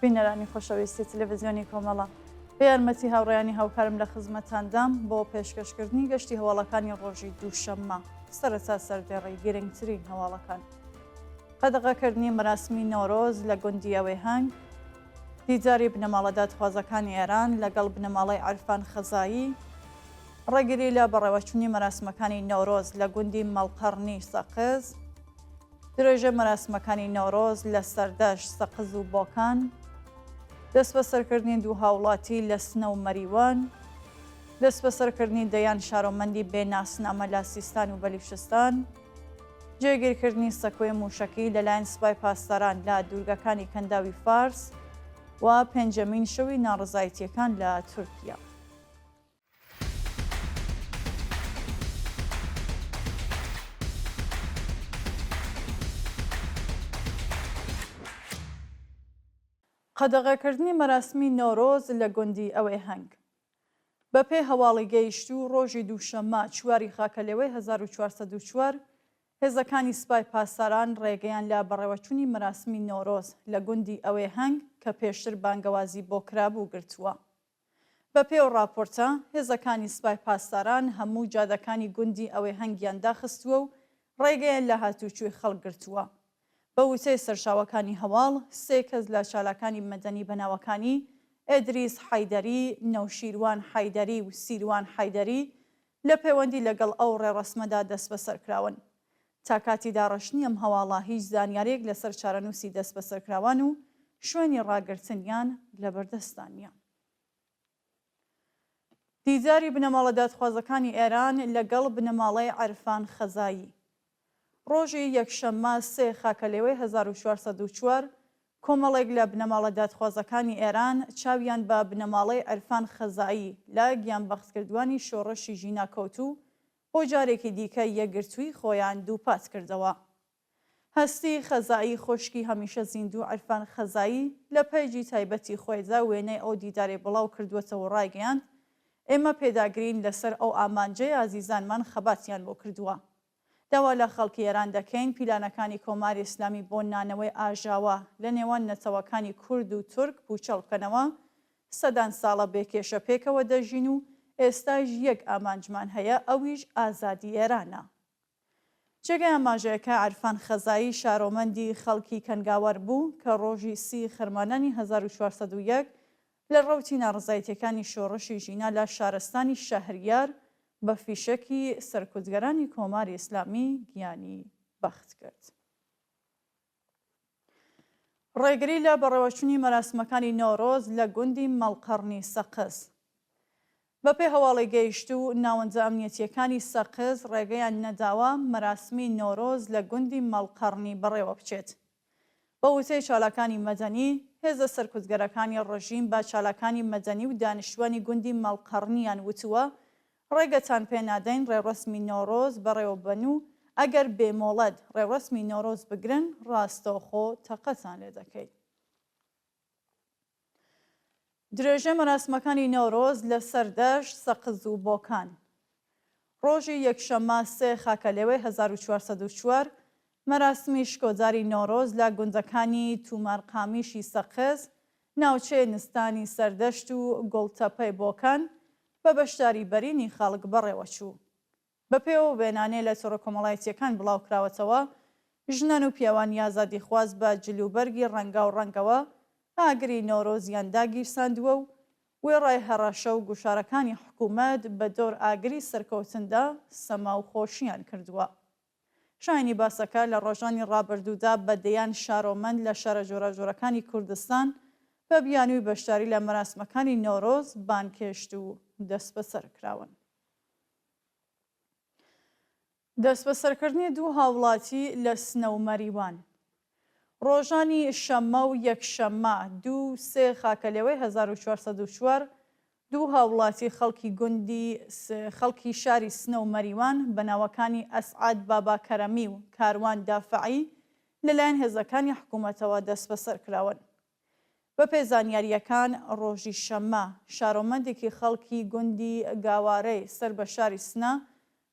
بینەرانی خۆشەویستی تلویزیۆنی کۆمەڵە، بە یارمەتی هاوڕێیانی هاوکارم لە خزمەتاندام بۆ پێشکەشکردنی گەشتی هەواڵەکانی ڕۆژی دووشەممە، سەرەتا سەردێڕی گرنگترین هەواڵەکان. قەدەغەکردنی مەراسمی نەورۆز لە گوندی ئەوێهەنگ، دیداری بنەماڵە دادخوازەکانی ئێران لەگەڵ بنەماڵەی عیرفان خەزایی، ڕێگری لە بەڕێوەچوونی مەراسمەکانی نەورۆز لە گوندی مەڵقەڕنی سەقز، درێژەی مەراسمەکانی نەورۆز لە سەردەشت، سەقز و بۆکان. دەستبەسەرکردنی دوو هاوڵاتی لە سنە و مەریوان. دەستبەسەرکردنی دەیان شارۆمەندی بێ ناسنامە لە سیستان و بەلیشستان. جێگیرکردنی سەکۆی مووشەکی لەلایەن سپای پاسداران لە دوورگەکانی کەنداوی فارس و پێنجەمین شەوی ناڕەزایتییەکان لە تورکیا. قەدەغەکردنی مەراسمی نەورۆز لە گوندی ئەوێهەنگ. بەپێی هەواڵی گەیشتوو، ڕۆژی دووشەممە چوار ی خاکەلێوەی هەزار و چوار سەد و چوار، هێزەکانی سپای پاسداران ڕێگەیان لە بەڕێوەچوونی مەراسمی نەورۆز لە گوندی ئەوێهەنگ کە پێشتر بانگەوازی بۆ کرابوو گرتووە. بەپێی ئەو ڕاپۆرتە، هێزەکانی سپای پاسداران هەموو جادەکانی گوندی ئەوێهەنگیان داخستووە و ڕێگەیان لە هاتووچووی خەڵک گرتووە. بە وتەی سەرچاوەکانی هەواڵ، سێ کەس لە چالاکانی مەدەنی بە ناوەکانی، ئێدریس حەیدەری، نەوشیروان حەیدەری و سیروان حەیدەری، لە پێوەندی لەگەڵ ئەو ڕێڕەسمەدا دەستبەسەرکراون. تا کاتی داڕشتنی ئەم هەواڵە هیچ زانیارێک لەسەر چارەنووسی دەستبەسەرکراوان و شوێنی ڕاگرتنیان لەبەردەستدا نییە. دیداری بنەماڵە دادخوازەکانی ئێران لەگەڵ بنەماڵەی عیرفان خەزایی. ڕۆژی یەکشەممە سێ خاکەلێوەی هەزار و چوار سەد و چوار، کۆمەڵێک لە بنەماڵە دادخوازەکانی ئێران چاویان بە بنەماڵەی عرفان خەزایی لە گیانبەختکردوانی شۆڕشی ژینا کەوت و بۆ جارێکی دیکە یەکگرتوویی خۆیان دووپات کردەوە. هەستی خەزایی خوشکی هەمیشە زیندوو عرفان خەزایی لە پەیجی تایبەتی خۆیدا وێنەی ئەو دیدارەی بڵاو کردووەتەوە و ڕایگەیاند، ئێمە پێداگرین لەسەر ئەو ئامانجەی ئازیزانمان خەباتیان بۆ کردووە. داوا لە خەڵکی ئێران دەکەین پیلانەکانی کۆماری ئیسلامی بۆ نانەوەی ئاژاوە لە نێوان نەتەوەکانی کورد و تورک پووچەڵ بکەنەوە، سەدان ساڵە بێ کێشە پێکەوە دەژین و ئێستاش یەک ئامانجمان هەیە ئەویش ئازادی ئێرانە. جێگای ئاماژەیەکە عرفان خەزایی شارۆمەندی خەڵکی کەنگاوەر بوو کە ڕۆژی سی خەرمانانی هەزار و چوار سەد و یەک لە ڕەوتی ناڕەزایتیەکانی شۆڕشی ژینا لە شارستانی شەهریار بە فیشەکی سەرکوتگەرانی کۆماری ئیسلامی گیانی بەخت کرد. ڕێگری لە بەڕێوەچونی مەراسمەکانی نەورۆز لە گوندی مەڵقەڕنی سەقز. بەپێی هەواڵی گەیشتوو، ناوەندە ئەمنیەتییەکانی سەقز ڕێگەیان نەداوە مەراسمی نەورۆز لە گوندی مەڵقەڕنی بەڕێوەبچێت. بە وتەی چالاکانی مەدەنی، هێزە سەرکوتگەرەکانی ڕژیم بە چالاکانی مەدەنی و دانیشتووانی گوندی مەڵقەڕنیان وتووە، ڕێگەتان پێ نادەین ڕێوڕەسمی نەورۆز بەڕێوەببەن و ئەگەر بێ مۆڵەت ڕێوڕەسمی نەورۆز بگرن، ڕاستەوخۆ تەقەتان لێدەکەین. درێژەی مەراسمەکانی نەورۆز لە سەردەشت، سەقز و بۆکان. ڕۆژی یەکشەممە سێ خاکەلێوەی هەزار و چوار سەد و چوار، مەراسمی شکۆداری نەورۆز لە گوندەکانی توومارقامیشی سەقز، ناوچەی نستانی سەردەشت و گوڵتەپەی بۆکان بە بەشداری بەرینی خەڵک بەڕێوەچوو. بەپێو وێنانێ لە تۆڕە کۆمەڵایەتییەکان بڵاوکراوەتەوە، ژنان و پیاوانی ئازادیخواز بە جل و بەرگی ڕەنگاو ڕەنگەوە ئاگری نەورۆزیان داگیرساندووە و وێڕای هەڕەشە و گوشارەکانی حکوومەت بە دۆر ئاگری سەرکەوتندا سەما و خۆشیان کردووە. شایەنی باسە کە لە ڕۆژانی ڕابردوودا بە دەیان شارۆمەند لە شارە جۆراجۆرەکانی کوردستان بە بیانووی بەشداری لە مەراسمەکانی نەورۆز بانگهێشت و دەسبەسەر کراون. دەستبەسەرکردنی دوو هاوڵاتی لە سنە و مەریوان ڕۆژانی شەممە و یەکشەممە دوو و سێ خاکەلێوەی هەزار و چوار سەد و چوار دوو هاوڵاتی خەڵکی گوندی خەڵکی شاری سنە و مەریوان بە ناوەکانی ئەسعەد بابا کەرەمی و کاروان دافعی لەلایەن هێزەکانی حکوومەتەوە دەستبەسەرکراون. بەپێ زانیارییەکان ڕۆژی شەممە شارۆمەندێکی خەڵکی گوندی گاوارەی سەر بە شاری سنە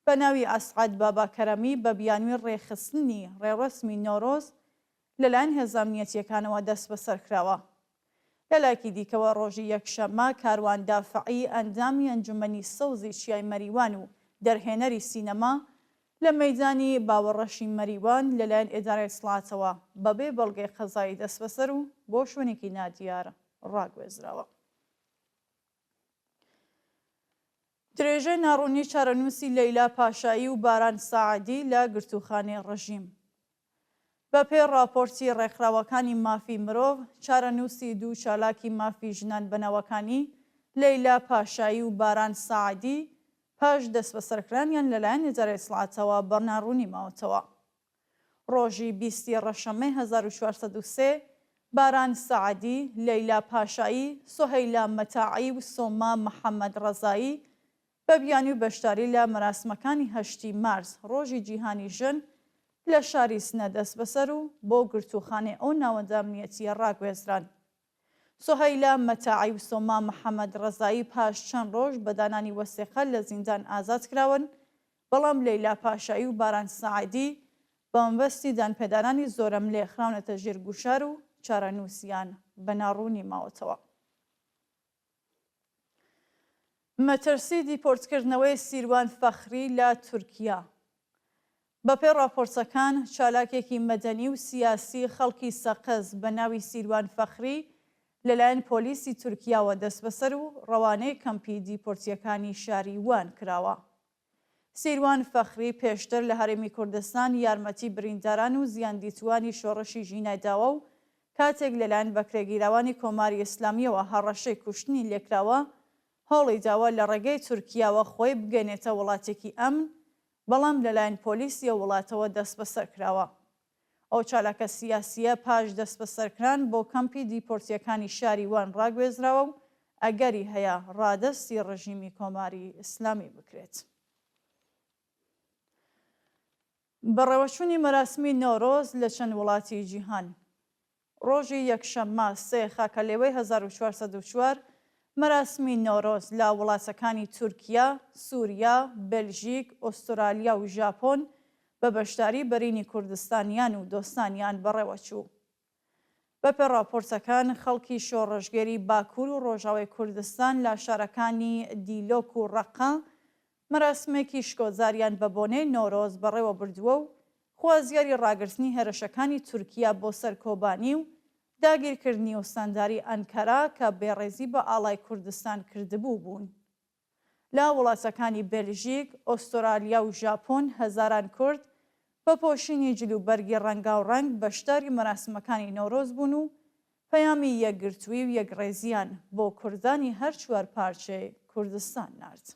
بە ناوی ئەسعەد بابا کەرەمی بە بیانوی ڕێکخستنی ڕێوڕەسمی نەورۆز لە لایەن هێزە ئەمنیەتییەکانەوە دەستبەسەر کراوە. لە لایەکی دیکەوە ڕۆژی یەکشەممە کاروان دافعی ئەندامی ئەنجومەنی سەوزی چیای مەریوان و دەرهێنەری سینەما لە مەیدانی باوەڕەشی مەریوان لەلایەن ئێدارەی سڵاتەوە بەبێ بەڵگەی قەزایی دەسبەسەر و بۆ شوێنێکی نادیار ڕاگوێزراوە. درێژەی ناڕوونی چارەنووسی لەیلا پاشایی و باران ساعدی لە گرتووخانەی ڕژیم. بەپێی ڕاپۆرتی ڕێکخراوەکانی مافی مرۆڤ، چارەنووسی دوو چالاکی مافی ژنان بە ناوەکانی، لەیلا پاشایی و باران ساعدی، پاش دەسبەسەرکرانیان لەلایەن ئیدارەی ئیتڵاعاتەوە بە ناڕوونی ماوەتەوە. ڕۆژی بیست ی ڕەشەممەی هەزار و چوار سەد و سێ، باران ساعدی، لەیلا پاشایی، سوهەیلا مەتاعی و سۆما محەمەدڕەزایی بە بیانی و بەشداری لە مەراسمەکانی هەشتی مارس، ڕۆژی جیهانی ژن، لە شاری سنە دەستبەسەر و بۆ گرتووخانەی ئەو ناوەندە ئەمنییەتییە ڕاگوێزران. سوهەیلا مەتاعی و سۆما محەمەد ڕەزایی پاش چەند ڕۆژ بە دانانی وەسێقە لە زیندان ئازاد کراون، بەڵام لەیلا پاشایی و باران ساعدی بە مەبەستی دانپێدانانی زۆرەملێ خراونەتە ژێر گوشار و چارەنووسیان بە ناڕوونی ماوەتەوە. مەترسی دیپۆرتکردنەوەی سیروان فەخری لە تورکیا بەپێی ڕاپۆرتەکان، چالاکێکی مەدەنی و سیاسی خەڵکی سەقز بە ناوی سیروان فەخری لەلایەن پۆلیسی تورکیاوە دەستبەسەر و ڕەوانەی کەمپی دیپۆرتییەکانی شاری وان کراوە. سیروان فەخری پێشتر لە هەرێمی کوردستان یارمەتی برینداران و زیاندیتووانی شۆڕشی ژینا داوە و کاتێک لەلایەن بەکرێگیراوانی کۆماری ئیسلامییەوە هەڕەشەی کوشتنی لێکراوە، هەوڵی داوە لە ڕێگەی تورکیاوە خۆی بگەنێتە وڵاتێکی ئەمن، بەڵام لەلایەن پۆلیسی ئەو وڵاتەوە دەستبەسەر کراوە. ئەو چالاکە سیاسییە پاش دەستبەسەرکران بۆ کەمپی دیپۆرتییەکانی شاری وان ڕاگوێزراوە و ئەگەری هەیە ڕادەستی ڕژیمی کۆماری ئیسلامی بکرێت. بەڕێوەچوونی مەراسمی نەورۆز لە چەند وڵاتی جیهان. ڕۆژی یەکشەممە سێ خاکەلێوەی هەزار و چوار سەد و چوار، مەراسمی نەورۆز لە وڵاتەکانی تورکیا، سوریا، بەلژیک، ئوسترالیا و ژاپۆن بە بەشداری بەرینی کوردستانیان و دۆستانیان بەڕێوەچوو. بەپێ ڕاپۆرتەکان، خەڵکی شۆڕشگێری باکوور و ڕۆژاوای کوردستان لە شارەکانی دیلۆک و ڕەققە مەراسمێکی شکۆجاریان بە بۆنەی نەورۆز بەڕێوە بردووە و خوازیاری ڕاگرتنی هێرشەکانی تورکیا بۆ سەر کۆبانی و داگیرکردنی و ستانداری ئەنکەرە کە بێڕێزی بە ئاڵای کوردستان کردبوو بوون. لە وڵاتەکانی بێلژیک، ئۆستۆرالیا و ژاپۆن هەزاران کورد بە پۆشینی جلوبەرگی ڕەنگاوڕەنگ بەشداری مەراسمەکانی نەورۆز بوون و پەیامی یەکگرتووی و یەکڕێزییان بۆ کوردانی هەر چوار پارچەی کوردستان نارد.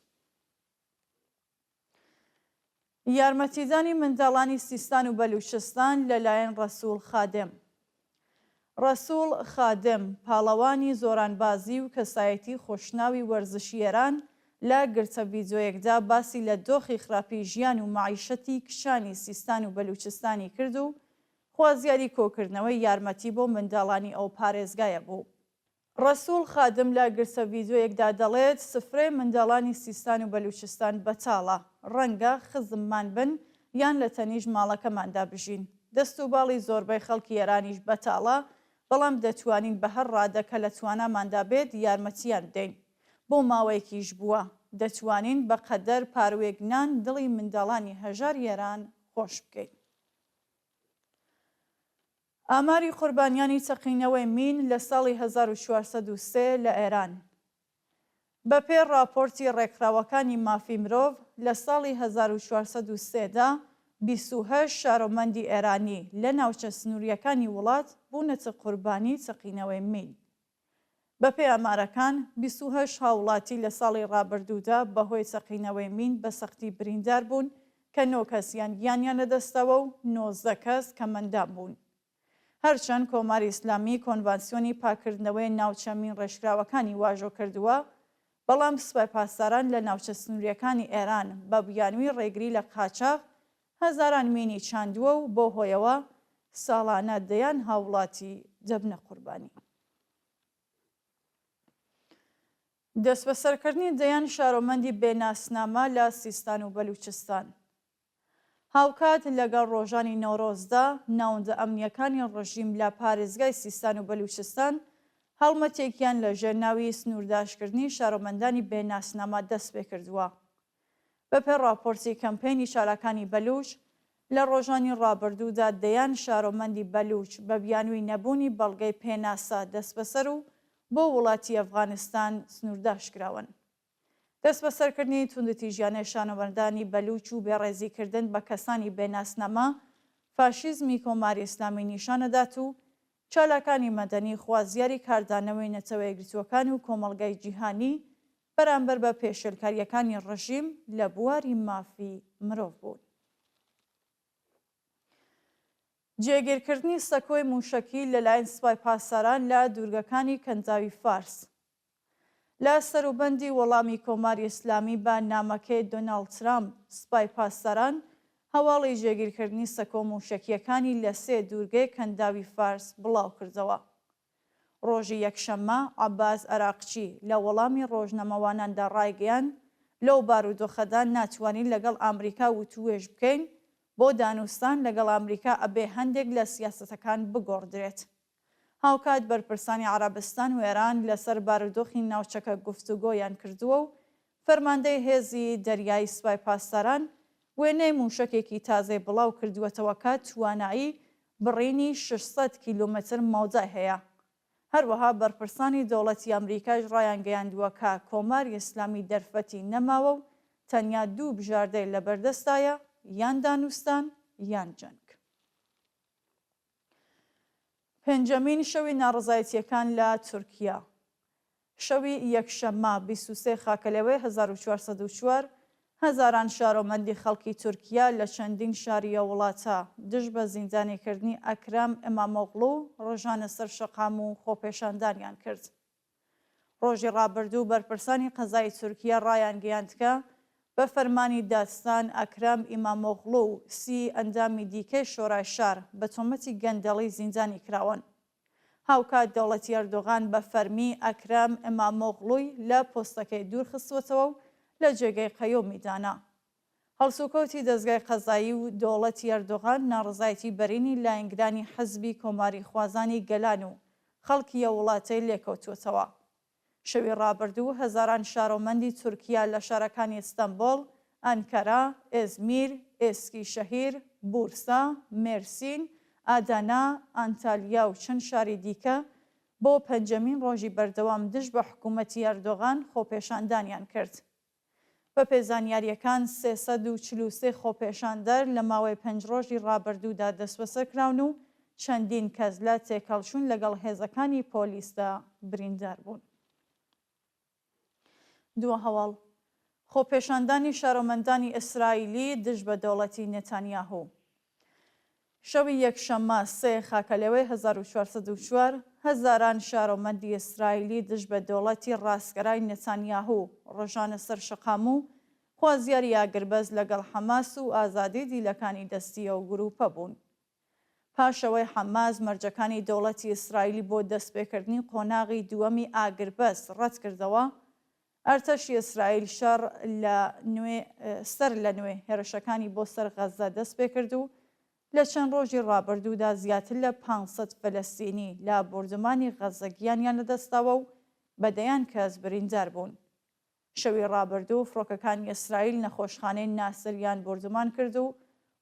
یارمەتیدانی منداڵانی سیستان و بەلووچستان لەلایەن ڕەسووڵ خادم ڕەسووڵ خادم، پاڵەوانی زۆرانبازی و کەسایەتی خۆشناوی وەرزشی ئێران لە گرتە ڤیدیۆیەکدا باسی لە دۆخی خراپی ژیان و مەعیشەتی کچانی سیستان و بەلووچستانی کرد و خوازیاری کۆکردنەوەی یارمەتی بۆ منداڵانی ئەو پارێزگایە بوو. ڕەسووڵ خادم لە گرتە ڤیدیۆیەکدا دەڵێت، سفرەی منداڵانی سیستان و بەلووچستان بەتاڵە، ڕەنگە خزممان بن یان لە تەنیشت ماڵەکەماندا بژین. دەست و باڵی زۆربەی خەڵکی ئێرانیش بەتاڵە، بەڵام دەتوانین بە هەر ڕادە کە لە تواناماندا بێت یارمەتییان بدەین. بۆ ماوەیەکیش بووە، دەتوانین بە قەدەر پاروێک نان دڵی منداڵانی هەژاری ئێران خۆش بکەین. ئاماری قوربانیانی تەقینەوەی مین لە ساڵی هەزار و چوار سەد و سێ لە ئێران بە پێ ڕاپۆرتی ڕێکخراوەکانی مافی مرۆڤ لە ساڵی هەزار و چوار سەد و سێ دا بیست و هەشت شارۆمەندی ئێرانی لە ناوچە سنوورییەکانی وڵات بوونەتە قوربانی تەقینەوەی مین. بەپێی ئامارەکان، بیست و هەشت هاوڵاتی لە ساڵی رابردوودا بەهۆی چەقینەوەی مین بە سەختی بریندار بوون کە نۆ کەسیان گیانیان لەدەستداوە و نۆزدە کەس کەمئەندام بوون. هەرچەند کۆماری ئیسلامی کۆنڤانسیۆنی پاککردنەوەی ناوچە مین رێژکراوەکانی واژۆ کردووە، بەڵام سوپای پاسداران لە ناوچە سنوورییەکانی ئێران بە بیانووی رێگری لە قاچاغ هەزاران مینی چاندووە و بەو هۆیەوە ساڵانە دەیان هاووڵاتی دەبنە قوربانی. دەستبەسەرکردنی دەیان شارۆمەندی بێ ناسنامە لە سیستان و بەلووچستان هاوکات لەگەڵ ڕۆژانی نەورۆزدا، ناوەندە ئەمنییەکانی ڕژیم لە پارێزگای سیستان و بەلووچستان هەڵمەتێکیان لەژێر ناوی سنوورداشکردنی شارۆمەندانی بێ ناسنامە دەستپێکردووە. بەپێ ڕاپۆرتی کەمپەینی شاراکانی بەلووچ، لە ڕۆژانی ڕابردوودا دەیان شارۆمەندی بەلووچ بە بیانووی نەبوونی بەڵگەی پێناسە دەسبەسەر و بۆ وڵاتی ئەفغانستان سنوورداش کراون. دەسبەسەرکردنی توندوتیژیانەی شانۆمەردانی بەلووچ و بێڕێزی کردن بە کەسانی بێ ناسنامە فاشیزمی کۆماری ئیسلامی نیشان ئەدات و چالاکانی مەدەنی خوازیاری کاردانەوەی نەتەوەیەکگرتووەکان و کۆمەڵگای جیهانی بەرامبەر بە پێشێلکارییەکانی ڕژیم لە بواری مافی مرۆڤ بوون. جێگیرکردنی سەکۆی مووشەکی لەلایەن سپای پاسداران لە دوورگەکانی کەنداوی فارس. لە سەروبەندی وەڵامی کۆماری ئیسلامی بە نامەکەی دۆناڵد ترامپ، سپای پاسداران هەواڵی جێگیرکردنی سەکۆ مووشەکییەکانی لە سێ دوورگەی کەنداوی فارس بڵاوکردەوە. ڕۆژی یەکشەممە، عەباس عەراقچی لە وەڵامی ڕۆژنامەواناندا ڕایگەیاند، لەو بارودۆخەدا ناتوانین لەگەڵ ئامریکا وتووێژ بکەین، بۆ دانوستان لەگەڵ ئامریکا ئەبێ هەندێک لە سیاسەتەکان بگۆڕدرێت. هاوکات بەرپرسانی عەرەبستان و ئێران لەسەر بارودۆخی ناوچەکە گفتوگۆیان کردووە و فەرماندەی هێزی دەریایی سوپای پاسداران وێنەی مووشەکێکی تازەی بڵاوکردووەتەوە کە توانایی بڕینی شەش سەد کیلۆمەتر مەودای هەیە. هەروەها بەرپرسانی دەوڵەتی ئەمریکاش ڕایانگەیاندووە کە کۆماری ئیسلامی دەرفەتی نەماوە و تەنیا دوو بژاردەی لەبەردەستدایە، یان دانوستان یان جەنگ. پێنجەمین شەوی ناڕەزایەتییەکان لە تورکیا شەوی یەکشەممە بیست و سێ خاکەلەوەی هەزار و چوار سەد و چوار هەزاران شارۆمەندی خەڵکی تورکیا لە چەندین شاری ئەو وڵاتە دژ بە زیندانیکردنی ئەکرەم ئیمامۆغڵو ڕژانە سەر شەقام و خۆپێشاندانیان کرد. ڕۆژی ڕابردوو بەرپرسانی قەزای تورکیە ڕایانگەیاندکە بە فەرمانی دادستان ئەکرەم ئیمامۆغڵو و سی ئەندامی دیکەی شۆرای شار بە تۆمەتی گەندەڵی زیندانی کراون. هاوکات دەوڵەتی ئەردۆغان بە فەرمی ئەکرەم ئیمامۆغڵوی لە پۆستەکەی دوورخستووەتەوە و لە جێگەی قەیومی دانا. هەڵسوکەوتی دەزگای قەزایی و دەوڵەتی ئەردۆغان ناڕەزایەتی بەرینی لایەنگرانی حزبی کۆماریخوازانی گەلان و خەڵکی ئەو وڵاتەی لێکەوتووەتەوە. شەوی ڕابردوو هەزاران شارۆمەندی تورکیا لە شارەکانی ستەنبۆڵ، ئەنکەرە، ئێزمیر، ئێسکیشەهیر، بورسا، مێرسین، ئادانا، ئانتالیا و چەند شاری دیکە بۆ پەنجەمین ڕۆژی بەردەوام دژ بە حکوومەتی ئەردۆغان خۆپێشاندانیان کرد. بەپێ زانیارییەکان سێ سەد و چل و سێ خۆپێشاندەر لە ماوەی پێنج رۆژی رابردوودا دەستبەسەرکراون و چەندین کەس لە تێکهەڵچوون لەگەڵ هێزەکانی پۆلیسدا برینداربوون. دووە هەواڵ، خۆپێشاندانی شارۆمەندانی ئیسرائیلی دژ بە دەوڵەتی نێتانیاهو، شەوی یەکشەممە سێ خاکەلێوەی هەزار و چوار سەد و چوار، هەزاران شارۆمەندی ئیسرائیلی دژ بە دەوڵەتی ڕاستگەرای نتانیاهو ڕژانە سەر شەقام و خوازیاری ئاگربەست لەگەڵ حەماس و ئازادی دیلەکانی دەستی ئەو گرووپە بوون. پاش ئەوەی حەماس مەرجەکانی دەوڵەتی ئیسرائیلی بۆ دەستپێکردنی قۆناغی دووەمی ئاگربەست ڕەتکردەوە، ئەرتەشی ئیسرائیل شەڕ لە نوێ سەر لە نوێ هێرشەکانی بۆ سەر غەززە دەست پێ کرد و لە چەند ڕۆژی ڕابردوودا زیاتر لە پانج سەد فەلەستینی لە بۆردومانی غەززە گیانیان لە دەست داوە و بە دەیان کەس بریندار بوون. شەوی ڕابردوو فڕۆکەکانی ئیسرائیل نەخۆشخانەی ناسر یان بۆردومان کرد و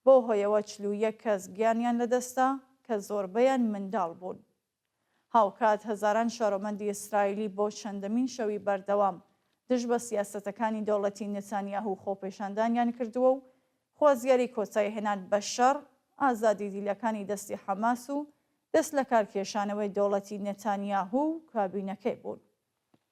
بەو هۆیەوە چل و یەک کەس گیانیان لە دەست دا کە زۆربەیان منداڵ بوون. هاوکات هەزاران شارۆمەندی ئیسرائیلی بۆ چەندەمین شەوی بەردەوام دژ بە سیاسەتەکانی دەوڵەتی نتانیاهو خۆپێشاندانیان کردووە و خوازیاری کۆتاییهێنان بە شەڕ، ئازادی دیلەکانی دەستی حەماس و دەستلەکارکێشانەوەی دەوڵەتی نتانیاهو و کابینەکەی بوون.